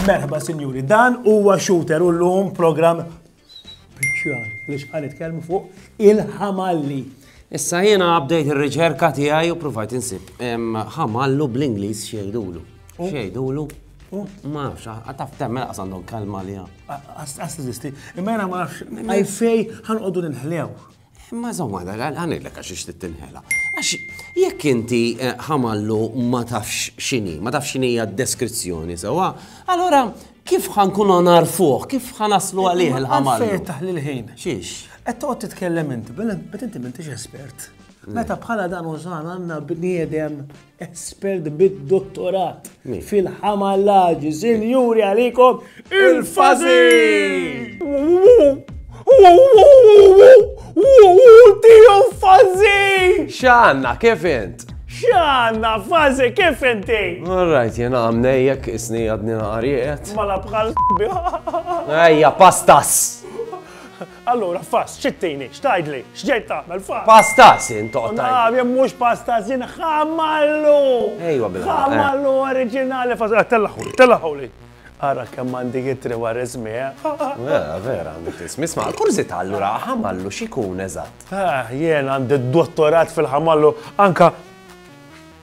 Merħba, sinjuri, dan huwa shooter u l-lum program speċjali li xħan itkellmu fuq il-ħamalli. Issa jiena update ir-riċerka tiegħi u provajt insib ħamallu bl-Ingliż xejdulu. Xejdulu Ma nafx, għataf temmel għas għandhom kalma li għam. Għas t-zisti, imma jena ma nafx, għajfej għan għoddu l-inħlew. Ma zomma, għan il-lek għax ixtit t-inħela. Għax, jekk inti eh, ħamallu ma tafx xini, ma tafx xini għad deskrizzjoni sewa, allora kif għan kun għanar fuq, kif għan aslu għalih il-ħamallu? Għalfej taħli l-ħin. Xiex? Għed toqgħod titkellem inti, bet inti m'intix espert. Meta bħala dan użan għandna bniedem Espert bid-dottorat fil-ħamallaġi, sinjuri għalikom il-fazi! Tiju fazi! Xanna, kif int? Xanna, fazi, kif inti? Alright, jena għamnejjek isni għadni naqariet. Mala bħal biħa. Ejja, pastas! Allura, fass, xi ttini? X'tgħidli? X'ġej tagħmel, fass? Pasta, sin, toqgħod tgħid. O naf, mhux pasta, sin, ħamallu! Ejwa bil-ħaqq, eh. Ħamallu oriġinali, fass, eh, tellagħhuli, tellagħhuli. Ara kemm għandi jitri wara ismi, eh. Eh, vera, għandek ismi. Isma, kurzita allura ħamallu x'ikun eżatt. Eh, jien għandi dottorat fil-ħamallu, anka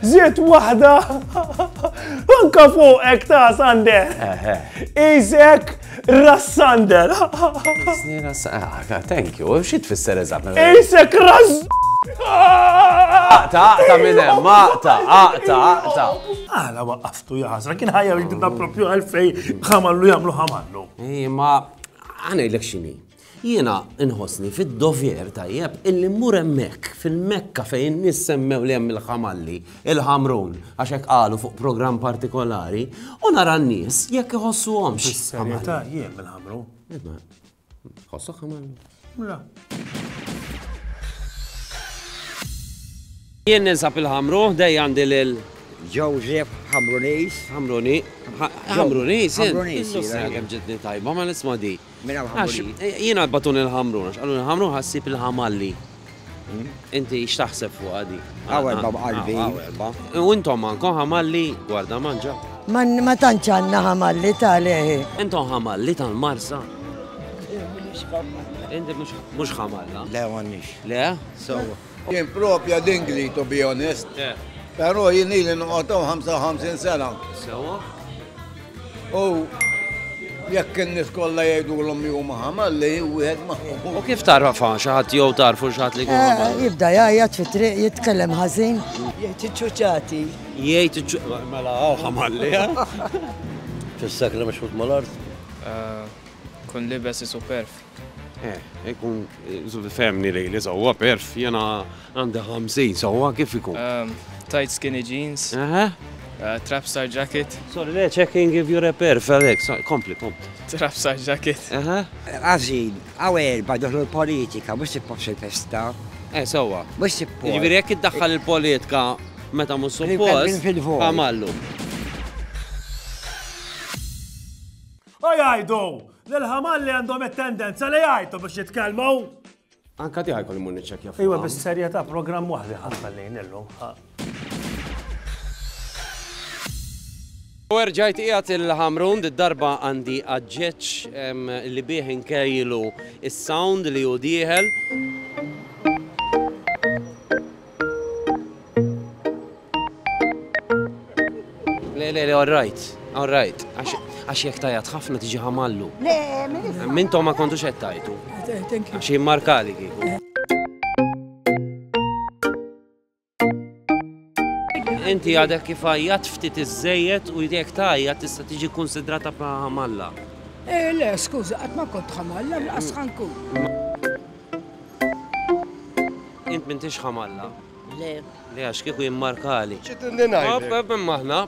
Ziet waħda! Anka fuqek ta' Sander! Isek Rassander! Ah, thank you, xi tfisser eżatt? Isek Rass! Aqta, aqta minn hemm, aqta, aqta, aqta. Għala waqqaftu jaħasra, kien ħajja li tibda propju għalfej ħamallu jagħmlu ħamallu. Ej, ma għanejlek xini. Jiena nħossni fid-dover, tajjeb, illi mmur hemmhekk, fil-Mekka fejn in-nies semmew li hemm il-ħamalli, il-ħamrun, għax hekk qalu fuq programm partikolari, u nara n-nies jekk iħossuhomx. Fis-serjetà jien mill-ħamrun. Ħossok ħamallu? La. Jien ninsab il-ħamru, dej għandi lil Joseph Hamrunis. Hamruni. Hamrunis, Hamrunis. Kemm ġitni tajba ma nisma' di. Minn Al-Ħamruni. Għax jiena għadbatuni l-Ħamrun, għax qaluli l-Ħamrun ħassib il-Ħamalli. Inti x'taħseb fuqha di? Hawn erba' b'qalbi. Hawn erba'. U intom għandkom Ħamalli? Gwarda manġa. Ma tantx għandna Ħamalli ta' leħi. Intom Ħamalli tal-Marsa? Inti mhux Ħamalla? Le, m'għandniex. Le? Sewwa. Jien propja dingli to be honest. Pero jien ili noqgħod hawn 55 sena. Sewwa. U jekk in-nies kollha jgħidulhom li huma ħamalli, wieħed ma U kif tarfa xi ħadd jew tarfu xi ħadd li jkun ħamalli? Jibda jgħajjat fit-triq, jitkellem ħażin. Jgħid iċ-ċuċati. Jgħid iċ-ċu. Mela hawn ħamalli, ha? Fis-sakra mexħut mal-art. Kun libes isuperf. Eh, ikun zuvi femni li li sawa perf, jena għandi 50 sawa kif ikun? Um, tight skinny jeans, uh, trap star jacket. Sorry, le, checking if you're a perf, Alex, kompli, kompli. Trap star jacket. Għazin, għaw erba doħlu l-politika, mux tippofx il-festa. Eh, sawa. Mux tippofx. Ġviri, jek id-daħħal il-politika meta mux suppost, għamallu. U jgħidu li l-ħamalli għandhom it-tendenza li jgħajtu biex jitkellmu. Anka tiegħi kolli mur niċċekkja fuq. Iwa bis-serjetà programm waħdi ħafna lejn illum. U erġajt qiegħed il-ħamrun darba għandi għadġeċ li bih inkejlu is-sound li hu dieħel. Le, le, le, all right, all right. Għax jek tajat ħafna tiġi ħamallu. Le, Mintom ma kontu xed tajtu. Għax jimmarkali kiku. Inti għadek kif għajjat ftit iż-żejjed u jek tajat tista' tiġi konsidrata pa ħamalla. Eh, le, skuża, qatt ma kont ħamalla, laqas ħankun. Int m'intix ħamalla? Le. Le għax kieku jimmarkali. Ċid inni ngħidlek. Hop hop imma aħna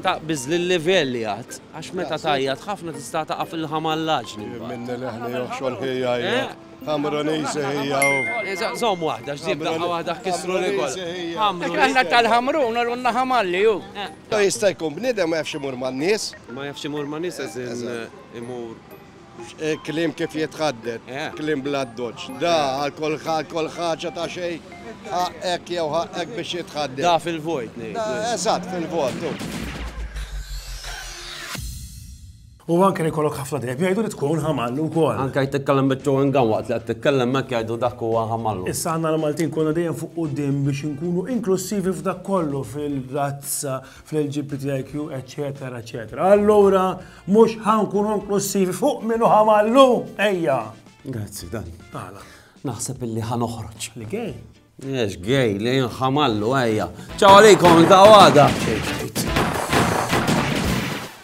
taqbiż lil-livell li għad għax meta tgħajjat ħafna tista' taqa' fil-ħamallaġni. Jien minni leħni joħxon ħi jgħajjat. Ħamrunisi hija u. Żomm waħda x'ġib daqqa waħda ħkissru li kol. Ħamrun. Għandna tal-ħamrun u għandna ħamalli hu. Jista' jkun bniedem ma jafx imur man-nies. Ma jafx imur man-nies as in imur. Kliem kif jitħadded, kliem bla ddoċċ. Da, għal kull ħaġa ta' xejn, ħaqqek jew ħaqqek biex jitħadded. Da fil-vojt ngħidu. Eżatt, fil-vojt, hu. U anke li jkollok ħafna dejb jgħidu li tkun ħamallu wkoll. Anke jekk titkellem biċ-chewing gum waqt li qed titkellem hekk jgħidu dak huwa ħamallu. Issa aħna l-Maltin konna dejjem fuq quddiem biex inkunu inklussivi f'dak kollu fil-razza, fl-LGBTIQ, eċċetera, eċċetera. Allura, Mhux ħa nkunu inklussivi fuq min hu ħamallu, ejja! Grazzi, dan. Għala. Naħseb illi ħa noħroġ. Li gej? Ex gej, li jinħamallu, ejja. Ċaw għalikom, ta' għada.